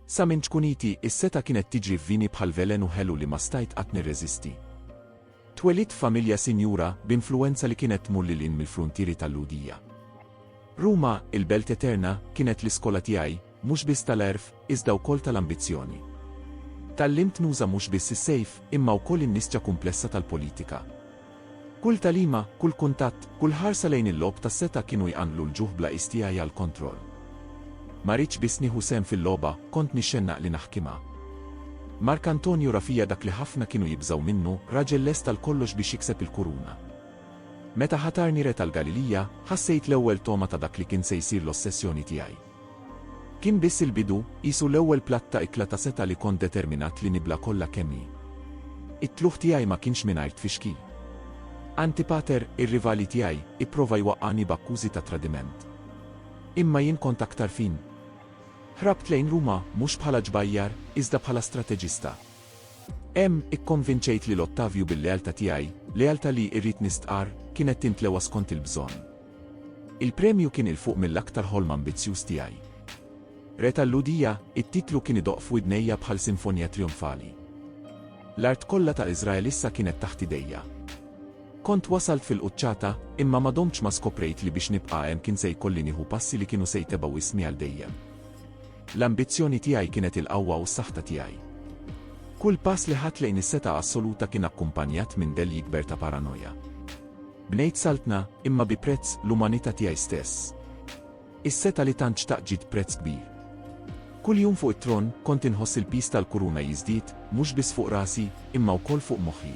Sa minn ċkuniti, is-setgħa kienet tiġri f'vini bħal velenu ħelu li ma stajt qatt nirreżisti. Twelidt f'familja sinjura, b'influwenza li kienet tmur lil hinn mill-fruntieri tal-Lhudija. Ruma, il-belt eterna, kienet l-iskola tiegħi, mhux biss tal-għerf, iżda wkoll tal-ambizzjoni. Tgħallimt nuża mhux biss is-sejf, imma wkoll in-nisġa kumplessa tal-politika. Kull tagħlima, kull kuntatt, kull ħarsa lejn il-logħob tas-setgħa kienu jqanqlu l-ġuħ bla qies tiegħi għall-kontroll. Ma ridtx biss nieħu sehem fil-logħba, kont nixxennaq li naħkimha. Mark Antonio ra fija dak li ħafna kienu jibżgħu minnu, raġel lest għal kollox biex jikseb il-kuruna. Meta ħatarni re tal-Galilija, ħassejt l-ewwel togħma ta' dak li kien se jsir l-ossessjoni tiegħi. Kien biss il-bidu, qisu l-ewwel platt ta' ikla ta' setgħa li kont determinat li nibla' kollha kemm hi. It-tlugħ tiegħi ma kienx mingħajr tfixkil. Antipater, ir-rivali tiegħi, ipprova jwaqqagħni b'akkużi ta' tradiment. Imma jien kont aktar fin. Ħrabt lejn Ruma, mhux bħala ġbajjar, iżda bħala strateġista. Hemm, ikkonvinċejt lil Ottavju bil-lealtà tiegħi, lealtà li, irrid nistqarr, kienet tintlewa skont il-bżonn. Il-premju kien 'il fuq mill-aktar ħolm ambizzjuż tiegħi. Re tal-Lhudija, it-titlu kien idoqq f'widnejja bħal sinfonija trijonfali. L-art kollha ta' Iżrael issa kienet taħt idejja. Kont wasalt fil-quċċata, imma ma domtx ma skoprejt li biex nibqa' hemm kien se jkolli nieħu passi li kienu se jtebgħu ismi għal dejjem. L-ambizzjoni tiegħi kienet il-qawwa u s-saħta tiegħi. Kull pass li ħadt lejn is-setgħa assoluta kien akkumpanjat minn dell jikber ta' paranoja. Bnejt saltna, imma bi prezz l-umanità tiegħi stess. Is-setgħa li tant xtaqt ġiet b'prezz kbir. Kull jum fuq it-tron, kont inħoss il-piż tal-kuruna jiżdied, mhux biss fuq rasi, imma wkoll fuq moħħi.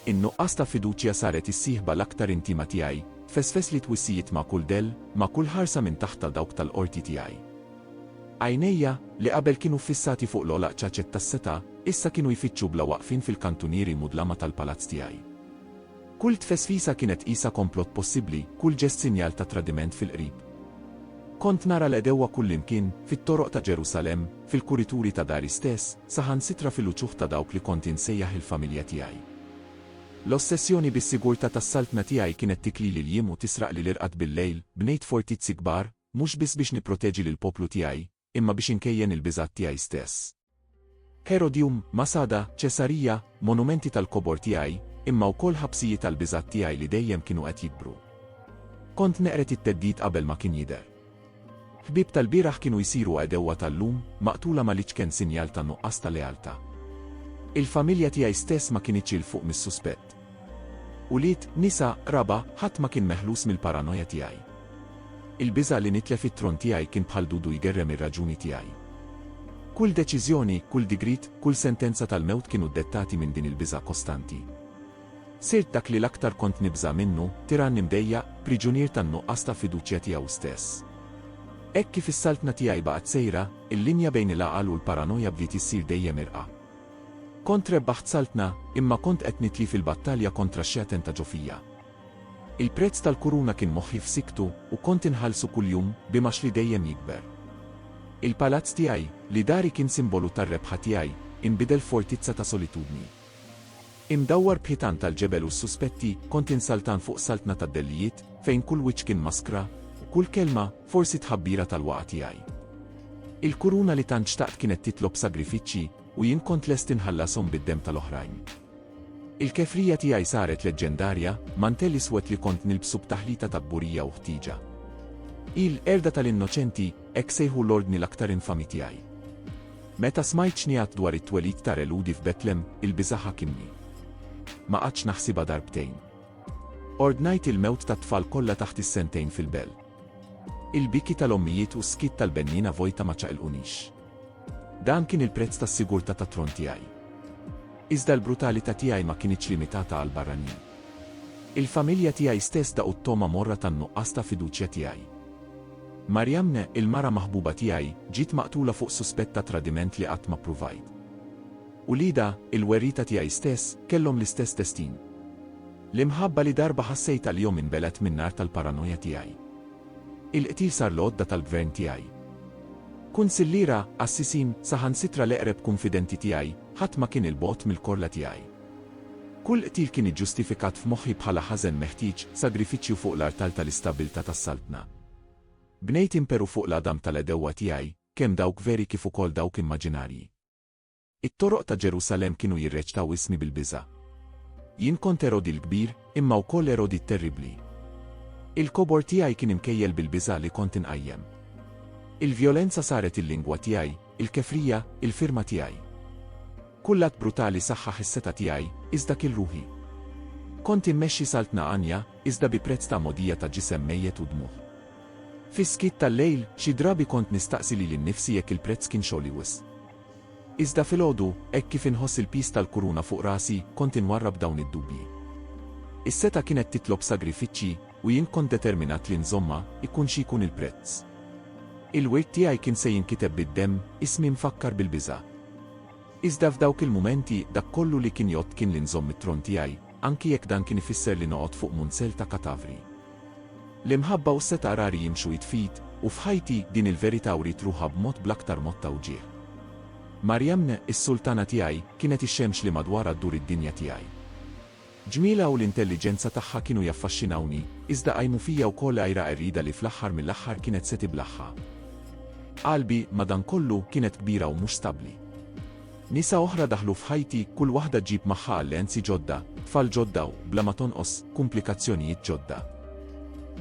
In-nuqqas ta' fiduċja saret is-sieħba l-aktar intima tiegħi, tfesfes li twissijiet ma' kull dell, ma' kull ħarsa minn taħt ta' dawk tal-qorti tiegħi. Għajnejja, li qabel kienu ffissati fuq l-ogħlaq ċaċet tas-setgħa, issa kienu jfittxu bla waqfien fil-kantunieri mudlama tal-palazz tiegħi. Kull tfesfisa kienet qisha komplott possibbli, kull ġest sinjal ta' tradiment fil-qrib. Kont nara l-għedewwa kullimkien, fit-toroq ta' Ġerusalemm, fil-kurituri ta' dari stess, saħansitra fil-uċuħ ta' dawk li kont insejjaħ il-familja tiegħi. L-ossessjoni bis-sigurtà tas-saltna tiegħi kienet tiklili l-jiem u tisraqli l-irqad bil-lejl, bnejt fortizzi kbar, mhux biss biex nipproteġi lill-poplu tiegħi, imma biex inkejjen il-biżgħat tiegħi stess. Herodium, Masada, Ċesarija, monumenti tal-kobor tiegħi, imma wkoll ħabsijiet għall-biżgħat tiegħi li dejjem kienu qed jikbru. Kont neqred it-theddid qabel ma kien jidher. Ħbieb tal-bieraħ kienu jsiru għedewwa tal-lum, maqtula Maliċ kien sinjal ta' nuqqas ta' lealtà. Il-familja tiegħi stess ma kinitx 'il fuq mis-suspett. Ulied, nisa, qraba, ħadd ma kien meħlus mill-paranoja tiegħi. Il-biża' li nitlef it-tron tiegħi kien bħal dudu jgerrem ir-raġuni tiegħi. Kull deċiżjoni, kull digriet, kull sentenza tal-mewt kienu ddettati minn din il-biża' kostanti. Sirt dak li l-aktar kont nibża' minnu, tirann imdejjaq, priġunier tan-nuqqas ta' fiduċja tiegħu stess. Hekk kif is-saltna tiegħi baqgħet sejra, il-linja bejn il-għaqal u l-paranoja bdiet issir dejjem irqa'. Kont rebbaħt saltna, imma kont qed nitli fil-battalja kontra x-xegħten ta' ġo fija. Il-prezz tal-kuruna kien moħħi f'sikktu, u kont inħallsu kuljum, b'imgħax li dejjem jikber. Il-palazz tiegħi, li dari kien simbolu tar-rebħa tiegħi, inbidel f'fortizza ta' solitudni. Imdawwar b'ħitan tal-ġebel u s-suspetti, kont insaltan fuq saltna tad-dellijiet, fejn kull wiċċ kien maskra, u kull kelma, forsi tħabbira tal-waqgħa tiegħi. Il-kuruna li tant xtaqt kienet titlob sagrifiċċji, u jien kont lest inħallashom bid-demm tal-oħrajn. Il-kefrija tiegħi saret leġġendarja, mantell iswed li kont nilbsu b'taħlita ta' kburija u ħtieġa. Il, qerda tal-innoċenti, hekk sejħu l-ordni l-aktar infami tiegħi. Meta smajt x'ngħiat dwar it-twelid ta' Re Lhudi f'Betlem, il-biża' ħakimni. Ma qgħadtx naħsibha darbtejn. Ordnajt il-mewt tat-tfal kollha taħt is-sentejn fil-bell. Il-biki tal-ommijiet u s-skiet tal-benniena vojta ma ċaqilqunix. Dan kien il-prezz tas-sigurtà tat-tron tiegħi. Iżda l-brutalità tiegħi ma kinitx limitata għall-barranin. Il-familja tiegħi stess daqu t-togħma morra tan-nuqqas ta' fiduċja tiegħi. Mariamne, il-mara maħbuba tiegħi, ġiet maqtula fuq suspett ta' tradiment li qatt ma ppruvajt. Uliedha, il-werrieta tiegħi stess, kellhom l-istess destin. L-imħabba li darba ħassejt għalihom inbelgħet min-nar tal-paranoja tiegħi. Il-qtil sar l-għodda tal-gvern tiegħi. Kunsilliera, qassisin, saħansitra l-eqreb kunfidenti tiegħi, ħadd ma kien 'il bogħod mill-korla tiegħi. Kull qtil kien iġġustifikat f'moħħi bħala ħażen meħtieġ, sagrifiċċju fuq l-artal tal-istabbiltà tas-Saltna. Bnejt imperu fuq l-għadam tal-għedewwa tiegħi, kemm dawk veri kif ukoll dawk immaġinarji. It-toroq ta' Ġerusalemm kienu jirreċtaw ismi bil-biża'. Jien kont Erodi l-Kbir, imma wkoll Erodi t-Terribbli. Il-kobor tiegħi kien imkejjel bil-biża' li kont inqajjem. Il-vjolenza saret il-lingwa tiegħi, il-kefrija, il-firma tiegħi. Kull att brutali saħħaħ is-setgħa tiegħi, iżda kiel ruħi. Kont immexxi saltna għanja, iżda bi prezz ta' mogħdija ta' ġisem mejjet u dmugħ. Fis-skiet tal-lejl, xi drabi kont nistaqsi lili nnifsi jekk il-prezz kienx għoli wisq. Iżda filgħodu, hekk kif inħoss il-piż tal-kuruna fuq rasi, kont inwarrab dawn id-dubji. Is-setgħa kienet titlob sagrifiċċji, u jien kont determinat li nżommha, ikun xi jkun il-prezz. Il-wirt tiegħi kien se jinkiteb bid-demm, ismi mfakkar bil-biża'. Iżda f'dawk il-mumenti, dak kollu li kien jgħodd kien li nżomm it-tron tiegħi, anki jekk dan kien ifisser li noqgħod fuq munsell ta' katavri. L-imħabba u s-setgħa rari jimxu id f'id, u f'ħajti, din il-verità wriet ruħha b'mod bl-aktar mod ta' wġigħ. Maryamne, is-sultana tiegħi, kienet ix-xemx li madwarha ddur id-dinja tiegħi. Ġmielha u l-intelliġenza tagħha kienu jaffaxxinawni, iżda qajmu fija wkoll għira qerrida li fl-aħħar mill-aħħar kienet se tiblaħħa. Qalbi, madankollu, kienet kbira u mhux stabbli. Nisa oħra daħlu f'ħajti, kull waħda ġġib magħha alleanzi ġodda, tfal ġodda u, bla ma tonqos, kumplikazzjonijiet ġodda.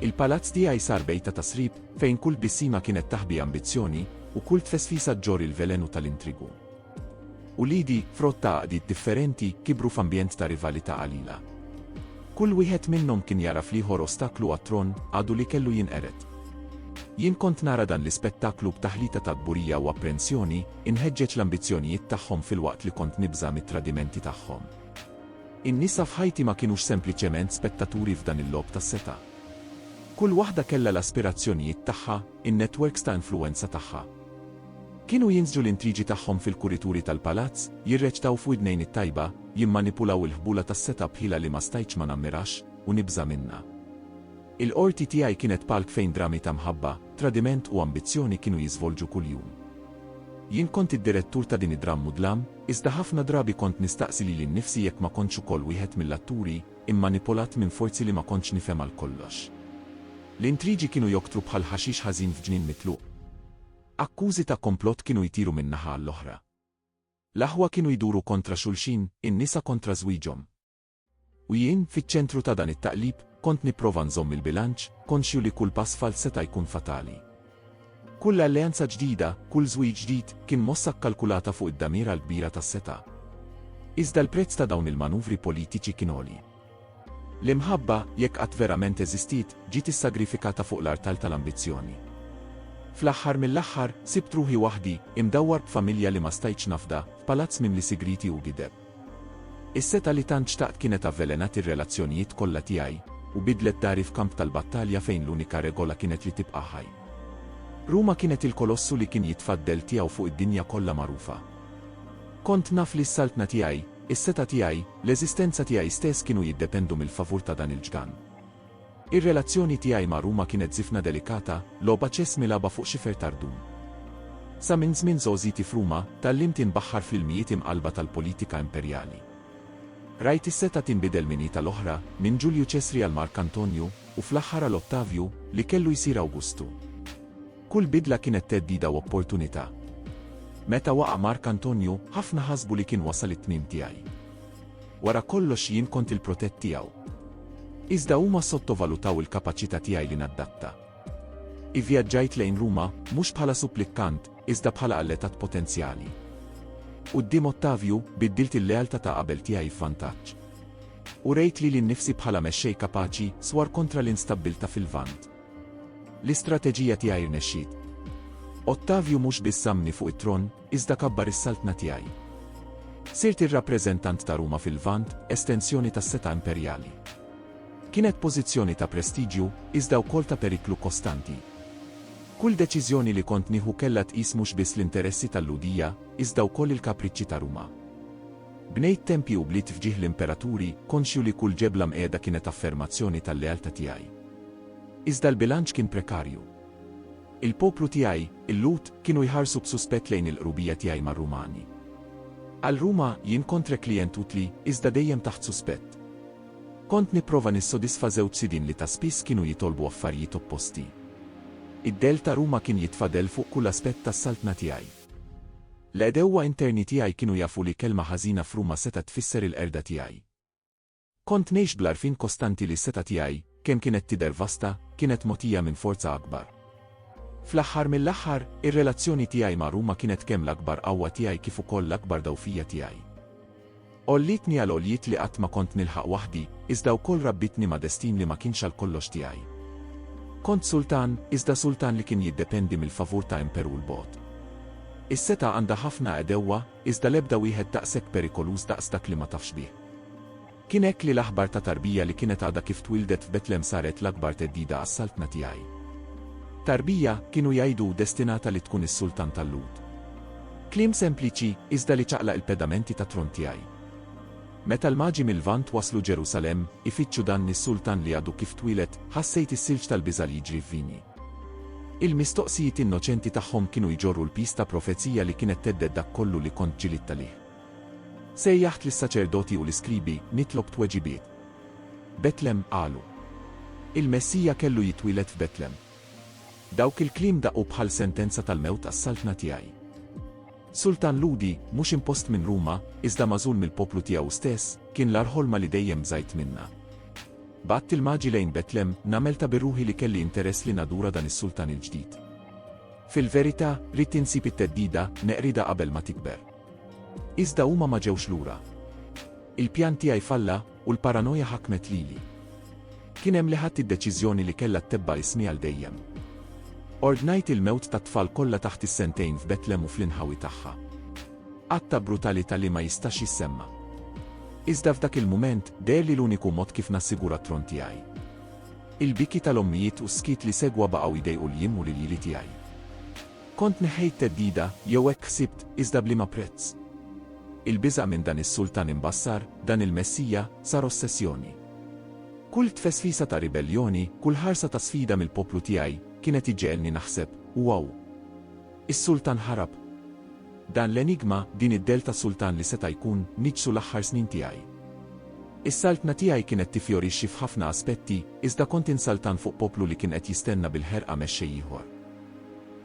Il-palazz tiegħi sar bejta ta' srib, fejn kull tbissima kienet taħbi ambizzjoni, u kull tfesfisa ġġorr il-velenu tal-intrigu. Uliedi, frott ta' għaqdiet differenti, kibru f'ambjent ta' rivalità qalila. Kull wieħed minnhom kien jara fl-ieħor ostaklu għat-tron, għadu li kellu jinqered. Jien kont nara dan l-ispettaklu b'taħlita ta' kburija u apprensjoni, inħeġġeġ l-ambizzjonijiet tagħhom filwaqt li kont nibża' mit-tradimenti tagħhom. In-nisa f'ħajti ma kinux sempliċement spettaturi f'dan il-logħob tas-setgħa. Kull waħda kellha l-aspirazzjonijiet tagħha, in-netwerks ta' influwenza tagħha, Kienu jinżġu l-intrigi tagħhom fil-kurituri tal-palazz, jirreċtaw f'widnejn it-tajba, jimmanipulaw il-ħbula tas-setgħa b'ħila li ma stajtx ma nammirax u nibża' minnha. Il-qorti tiegħi kienet palk fejn drami ta' mħabba, tradiment u ambizzjoni kienu jiżvolġu kuljum. Jien kont id-direttur ta' din id-drammudlam, iżda ħafna drabi kont nistaqsi lili nnifsi jekk ma kontx ukoll wieħed mill-atturi, immanipulat minn forzi li ma kontx nifhem għal kollox. L-intrigi kienu joktru bħal ħaxix ħażin f'ġnien mitluq. Akkużi ta' komplott kienu jtiru minn naħa għall-oħra. L-aħwa kienu jduru kontra xulxin, in-nisa kontra żwieġhom. U jien, fiċ-ċentru ta' dan it-taqlib, kont nipprova nżomm il-bilanċ, konxju li kull pass falz seta' jkun fatali. Kull alleanza ġdida, kull żwieġ ġdid, kien mossa kkalkulata fuq id-damira l-kbira tas-setgħa. Iżda l-prezz ta' dawn il-manuvri politiċi kien għoli. L-imħabba, jekk qatt verament eżistiet, ġiet issagrifikata fuq l-artal tal-ambizzjoni. Fl-aħħar mill-aħħar, sibt ruħi waħdi, imdawwar b'familja li ma stajtx nafda, f'palazz mimli sigrieti u gideb. Is-setgħa li tant xtaqt kienet avvelenat ir-relazzjonijiet kollha tiegħi, u bidlet dari f'kamp tal-battalja fejn l-unika regola kienet li tibqa' ħaj. Ruma kienet il-kolossu li kien jitfa' d-dell tiegħu fuq id-dinja kollha magħrufa. Kont naf li s-saltna tiegħi, is-setgħa tiegħi, l-eżistenza tiegħi stess kienu jiddependu mill-favur ta' dan il-ġgant. Ir-relazzjoni tiegħi ma' Ruma kienet żifna delikata, logħba ċess milagħba fuq xifer tardun. Sa minn żmien żgħożiti f'Ruma, tgħallimt inbaħħar fl-ilmijiet imqallba tal-politika imperjali. Rajt is-setgħa tinbidel minn id tal-oħra, minn Ġulju Ċesri għal Mark Antonju, u fl-aħħar għal Ottavju, li kellu jsir Awgustu. Kull bidla kienet theddida u opportunità. Meta waqa' Mark Antonju, ħafna ħasbu li kien wasal it-tmiem tiegħi. Wara kollox jien kont il-protett tiegħu. Iżda huma sottovalutaw il-kapaċità tiegħi li naddatta. Ivvjaġġajt lejn Ruma, mhux bħala supplikkant, iżda bħala alletat potenzjali. Quddiem Ottavju, biddilt il-lealtà ta' qabel tiegħi f'vantaġġ. Urejt lili nnifsi bħala mexxej kapaċi, swar kontra l-instabbiltà fil-Lvant. L-istrateġija tiegħi rnexxiet. Ottavju mhux biss żammni fuq it-tron, Iżda kabbar is-saltna tiegħi. Sirt ir-rappreżentant ta' Ruma fil-Lvant, estensjoni tas-setgħa imperjali. Kienet pożizzjoni ta' prestiġju, iżda wkoll ta' periklu kostanti. Kull deċiżjoni li kont nieħu kellha tqis mhux biss l-interessi tal-Lhudija, iżda wkoll il-kapriċċi ta' Ruma. Bnejt tempji u bliet f'ġieħ l-imperaturi, konxju li kull ġebla mqiegħda kienet affermazzjoni tal-lealtà tiegħi. Iżda l-bilanċ kien prekarju. Il-poplu tiegħi, il-Lhud, kienu jħarsu b'suspett lejn il-qrubija tiegħi mar-Rumani. Għal Ruma, jien kontre klijent utli, iżda dejjem taħt suspett. Kont nipprova nissodisfa żewġ sidien li ta' spiss kienu jitolbu affarijiet opposti. Id-dell ta' Ruma kien jitfa' dell fuq kull aspett tas-saltna tiegħi. L-għedewwa interni tiegħi kienu jafu li kelma ħażina f'Ruma setgħet tfisser il-qerda tiegħi. Kont ngħix bl-għarfien kostanti li s-setgħa tiegħi, kemm kienet tidher vasta, kienet mogħtija minn forza akbar. Fl-aħħar mill-aħħar, ir-relazzjoni tiegħi ma' Ruma kienet kemm l-akbar qawwa tiegħi kif ukoll l-akbar dgħufija tiegħi. Għollietni għal għoljiet li qatt ma kont nilħaq waħdi, iżda wkoll rabbitni ma' destin li ma kienx għal kollox tiegħi. Kont sultan, iżda sultan li kien jiddependi mill-favur ta' imperu 'l bogħod. Is-setgħa għandha ħafna għedewwa, Iżda l-ebda wieħed daqshekk perikoluż daqs dak li ma tafx bih. Kien hekk li l-aħbar ta' tarbija li kienet għadha kif twieldet f'Betlem saret l-akbar theddida għas-Saltna tiegħi. Tarbija, kienu jgħidu, destinata li tkun is-Sultan tal-Lhud. Kliem sempliċi, iżda li ċaqlaq il-pedamenti tat-tron tiegħi. Meta l-Maġi mil-Lvant waslu Ġerusalemm, ifittxu dan is-Sultan li għadu kif twieled, ħassejt is-silġ tal-biża' li jiġri f'vini. Il-mistoqsijiet innoċenti tagħhom kienu jġorru l-piż ta' profezija li kienet thedded dak kollu li kont ġġilidta lih. Sejjaħt lis-saċerdoti u l-iskribi, nitlob tweġibiet. Betlem, qalu. Il-Messija kellu jitwieled f'Betlem. Dawk il-kliem daqqu bħal sentenza tal-mewt għas-Saltna tiegħi. Sultan Lhudi, mhux impost minn Ruma, iżda magħżul mill-poplu tiegħu stess, kien l-agħar ħolma li dejjem bżajt minnha. Bgħadt il-Maġi lejn Betlem, nagħmel ta' bi ruħi li kelli interess li nadura dan is-sultan il-ġdid. Fil-verità, ridt insib it-theddida, neqridha qabel ma tikber. Iżda huma ma ġewx lura. Il-pjan tiegħi falla, U l-paranoja ħakmet lili. Kien hemm li ħadt id-deċiżjoni li kellha ttebba' ismi għal dejjem. Ordnajt il-mewt tat-tfal kollha taħt is-sentejn f'Betlem u fl-inħawi tagħha. Att ta' brutalità li ma jistax jissemma'. Iżda f'dak il-mument, deherli l-uniku mod kif nassigura t-tron tiegħi. Il-biki tal-ommijiet u s-skiet li segwa baqgħu jdejqu l-jiem u l-iljieli tiegħi. Kont neħħejt theddida jew hekk ħsibt, iżda b'liema prezz? Il-biża' minn dan is-sultan imbassar, dan il-messija, sar ossessjoni. Kull tfesfisa ta' ribelljoni, kull ħarsa ta' sfida mill-poplu tiegħi, kien qed iġegħelni naħseb, Wow! Is-sultan ħarab! Dan l-enigma, din id-dell ta' sultan li seta' jkun, niġġsu l-aħħar snin tiegħi. Is-saltna tiegħi kienet tifjorixxi f'ħafna aspetti, iżda kont insaltan fuq poplu li kien qed jistenna bil-ħerqa mexxej ieħor.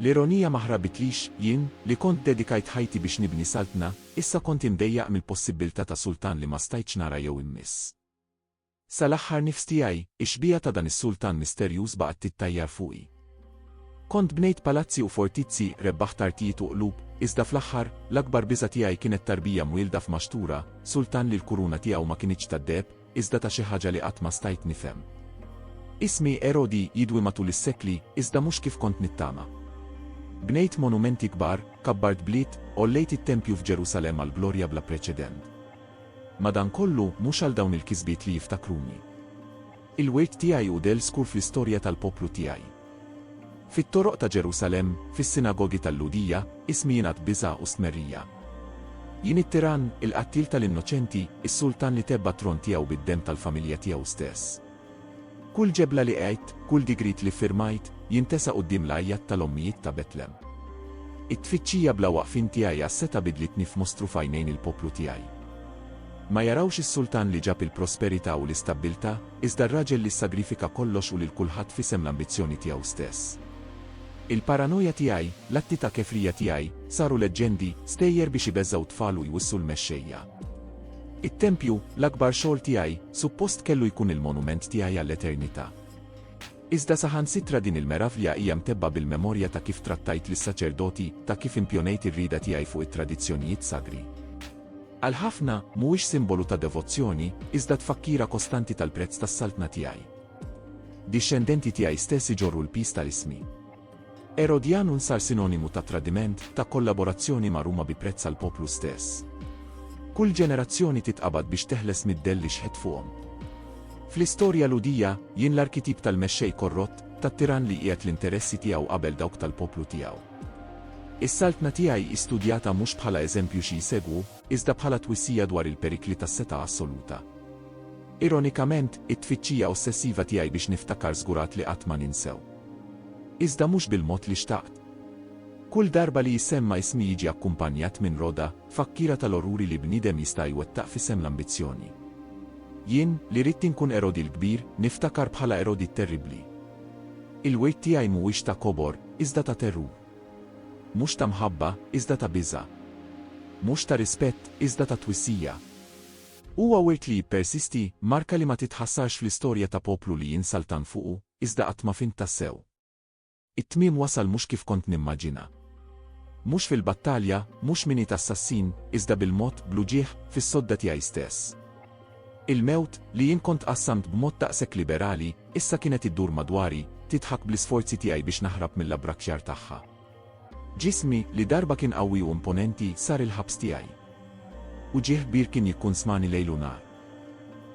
L-ironija ma ħrabitlix, jien, li kont dedikajt ħajti biex nibni saltna, issa kont imdejjaq mill-possibbiltà ta' sultan li ma stajtx nara jew immiss. Sal-aħħar nifs tiegħi, ix-xbieha ta' dan is-sultan misterjuż baqgħet tittajjar fuqi. Kont bnejt palazzi u fortizzi, rebbaħt artijiet u qlub, iżda fl-aħħar, l-akbar biża' tiegħi kienet tarbija mwielda f'maxtura, sultan li l-kuruna tiegħu ma kinitx tad-deheb, iżda ta' xi ħaġa li qatt ma stajt nifhem. Ismi Erodi jidwi matul is-sekli, iżda mhux kif kont nittama. Bnejt monumenti kbar, kabbart bliet, għollejt it-tempju f'Ġerusalemm għal glorja bla preċedent. Madankollu, mhux għal dawn il-kisbiet li jiftakruni. Il-wirt tiegħi hu del skur fl-istorja tal-poplu tiegħi. Fit-toroq ta' Ġerusalemm, fis-sinagogi tal-Lhudija, ismi jingħad biża' u stmerrija. Jien it-tirann, il-qattiel tal-innoċenti, is-sultan li tebba t-tron tiegħu bid-demm tal-familja tiegħu stess. Kull ġebla li għedt, kull digriet li ffirmajt, jintesa quddiem l-għajjat tal-ommijiet ta' Betlem. It-tfittxija bla waqfien tiegħi għas-setgħa bidlitni f'mostru f'għajnejn il-poplu tiegħi. Ma jarawx is-sultan li ġab il-prosperità u l-istabbiltà? Iżda r-raġel li ssagrifika kollox u lil kulħadd f'isem l-ambizzjoni tiegħu stess. Il-paranoja tiegħi, l-atti ta' kefrija tiegħi, saru leġġendi, stejjer biex ibeżżgħu t-tfal u jwissu l-mexxejja. It-tempju, l-akbar xogħol tiegħi, suppost kellu jkun il-monument tiegħi għall-eternità. Iżda saħansitra din il-meravlja hija mtebbgħa bil-memorja ta' kif trattajt lis-saċerdoti, ta' kif impjonejt ir-rieda tiegħi fuq it-tradizzjonijiet sagri. Għal ħafna, mhuwiex simbolu ta' devozzjoni, iżda tfakkira kostanti tal-prezz tas-Saltna tiegħi. Dixxendenti tiegħi stess iġorru l-piż ta' ismi. Erodjanun sar sinonimu ta' tradiment, ta' kollaborazzjoni ma' Ruma bi prezz għall-poplu stess. Kull ġenerazzjoni titqabad biex teħles mid-dell li xħet fuqhom. Fl-istorja Lhudija, jien l-arkitip tal-mexxej korrott, tat-tirann li jqiegħed l-interessi tiegħu qabel dawk tal-poplu tiegħu. Is-Saltna tiegħi hi studjata mhux bħala eżempju xi jsegwu, iżda bħala twissija dwar il-perikli tas-setgħa assoluta. Ironikament, it-tfittxija ossessiva tiegħi biex niftakar żgurat li qatt ma ninsew. Iżda mhux bil-mod li xtaqt. Kull darba li jissemma ismi jiġi akkumpanjat minn roda, fakkiera tal-orruri li bniedem jista' jwettaq f'isem l-ambizzjoni. Jien, li ridt inkun Erodi l-Kbir, niftakar bħala Erodi t-Terribbli. Il-wirt tiegħi mhuwiex ta' kobor, iżda ta' terrur. Mhux ta' mħabba, iżda ta' biża'. Mhux ta' rispett, iżda ta' twissija. Huwa wirt li jippersisti, marka li ma titħassarx fl-istorja ta' poplu li jinsa l-tan fuqu, iżda qatt ma fhimt tassew. It-tmiem wasal mhux kif kont nimmaġina. Mhux fil-battalja, mhux minn id assassin, iżda bil-mod, bl-uġigħ, fis-sodda tiegħi stess. Il-mewt, li jien kont qassamt b'mod daqshekk liberali, issa kienet iddur madwari, tidħak bl-isforzi tiegħi biex naħrab mill-abbrakkjar tagħha. Ġismi, li darba kien qawwi u imponenti, sar il-ħabs tiegħi. Uġigħ kbir kien jikkunsmani lejl u nhar.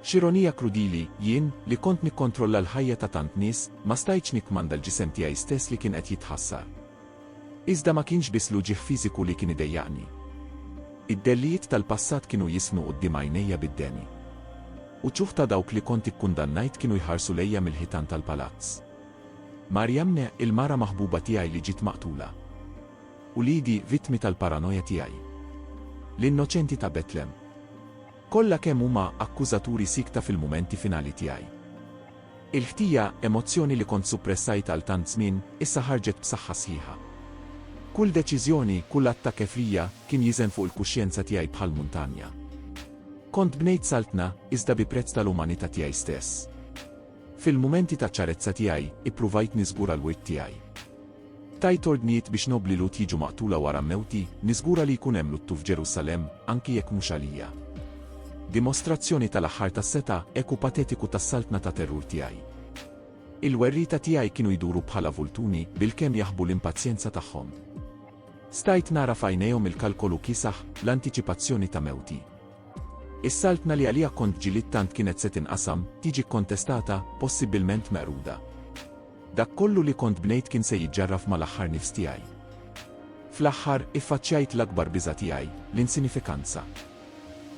X'ironija krudili, jien, li kont nikkontrolla l-ħajja ta' tant nies, ma stajtx nikkmanda l-ġisem tiegħi stess li kien qed jitħassar. Iżda ma kienx biss l-uġigħ fiżiku li kien idejjaqni. Id-dellijiet tal-passat kienu jisnu quddiem għajnejja bid-deni. Uċuħ ta' dawk li kont ikkundannajt kienu jħarsu lejja mill-ħitan tal-palazz. Mariamne, il-mara maħbuba tiegħi li ġiet maqtula. Uliedi, vittmi tal-paranoja tiegħi. L-innoċenti ta' Betlem. Kollha kemm huma akkużaturi siekta fil-mumenti finali tiegħi. Il-ħtija, emozzjoni li kont suppressajt għal tant żmien, issa ħarġet b'saħħa sħiħa. Kull deċiżjoni, kull att ta' kefrija, kien jiżen fuq il-kuxjenza tiegħi bħal muntanja. Kont bnejt saltna, iżda bi prezz tal-umanità tiegħi stess. Fil-mumenti ta' ċarezza tiegħi, ippruvajt niżgura l-wirt tiegħi. Tajt ordnijiet biex nobbli Lut jiġu maqtula wara mewti, niżgura li jkun hemm luttu f'Ġerusalemm, anki jekk mhux għalija. Dimostrazzjoni tal-aħħar tas-setgħa, eku patetiku tas-saltna ta' terrur tiegħi. Il-werrieta tiegħi kienu jduru bħala vultuni, bilkemm jaħbu l-impazjenza tagħhom. Stajt nara f'għajnejhom il-kalkolu kiesaħ, l-antiċipazzjoni ta' mewti. Is-Saltna li għaliha kont ġilidt tant kienet se tinqasam, tiġi kkontestata, possibbilment meqruda. Dak kollu li kont bnejt kien se jiġġarraf mal-aħħar nifs tiegħi. Fl-aħħar, iffaċċjajt l-akbar biża' tiegħi, l-insinifikanza.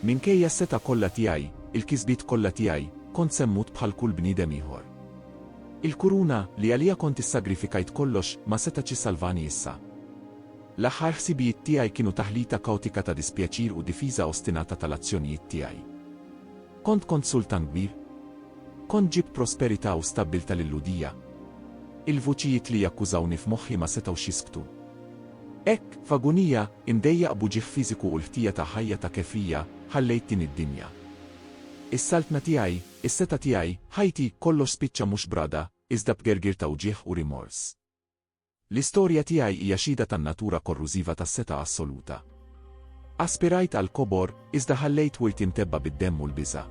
Minkejja s-setgħa kollha tiegħi, il-kisbiet kollha tiegħi, kont se mmut bħal kull bniedem ieħor. Il-kuruna, li għaliha kont issagrifikajt kollox, ma setax issalvani issa. L-aħħar ħsibijiet tiegħi kienu taħlita kaotika ta' dispjaċir u difiża ostinata tal-azzjonijiet tiegħi. Kont kont sultan kbir? Kont ġibt prosperità u stabbiltà lil-Lhudija? Il-vuċijiet li jakkużawni f'moħħi ma setgħux jisktu. Hekk, f'agunija, imdejjaq b'uġigħ fiżiku u l-ħtija ta' ħajja ta' kefrija, ħallejt din id-dinja. Is-saltna tiegħi, is-setgħa tiegħi, ħajti, kollox spiċċa mhux b'ragħda, iżda b'gergir ta' wġigħ u rimors. L-istorja tiegħi hija xhieda tan-natura korrużiva tas-setgħa assoluta. Aspirajt għall-kobor, iżda ħallejt wirt jimtebba bid-demm u l-biża'.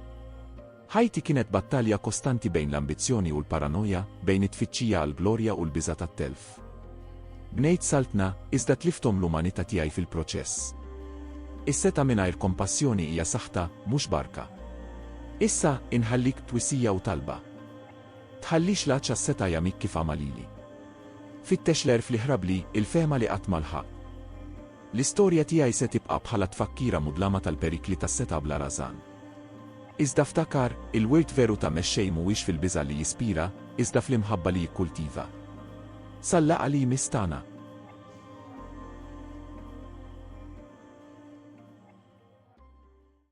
Ħajti kienet battalja kostanti bejn l-ambizzjoni u l-paranoja, bejn it-tfittxija għall-glorja u l-biża' tat-telf. Bnejt saltna, iżda tlifthom l-umanità tiegħi fil-proċess. Is-setgħa mingħajr kompassjoni hija saħta, mhux barka. Issa, inħallik b'twisija u talba. Tħallix l-għatxha s-setgħa jagħmik kif għama lili. Fittex l-għerf li ħrabli, il-fehma li qatt ma lħaqt. L-istorja tiegħi se tibqa' bħala tfakkira mudlama tal-perikli tas-setgħa bla rażan. Iżda ftakar, il-wirt veru ta' Mexxej mhuwiex fil-biża' li jispira, iżda fl-imħabba li jikkultiva. Sal-laqgħa li jmiss tagħna.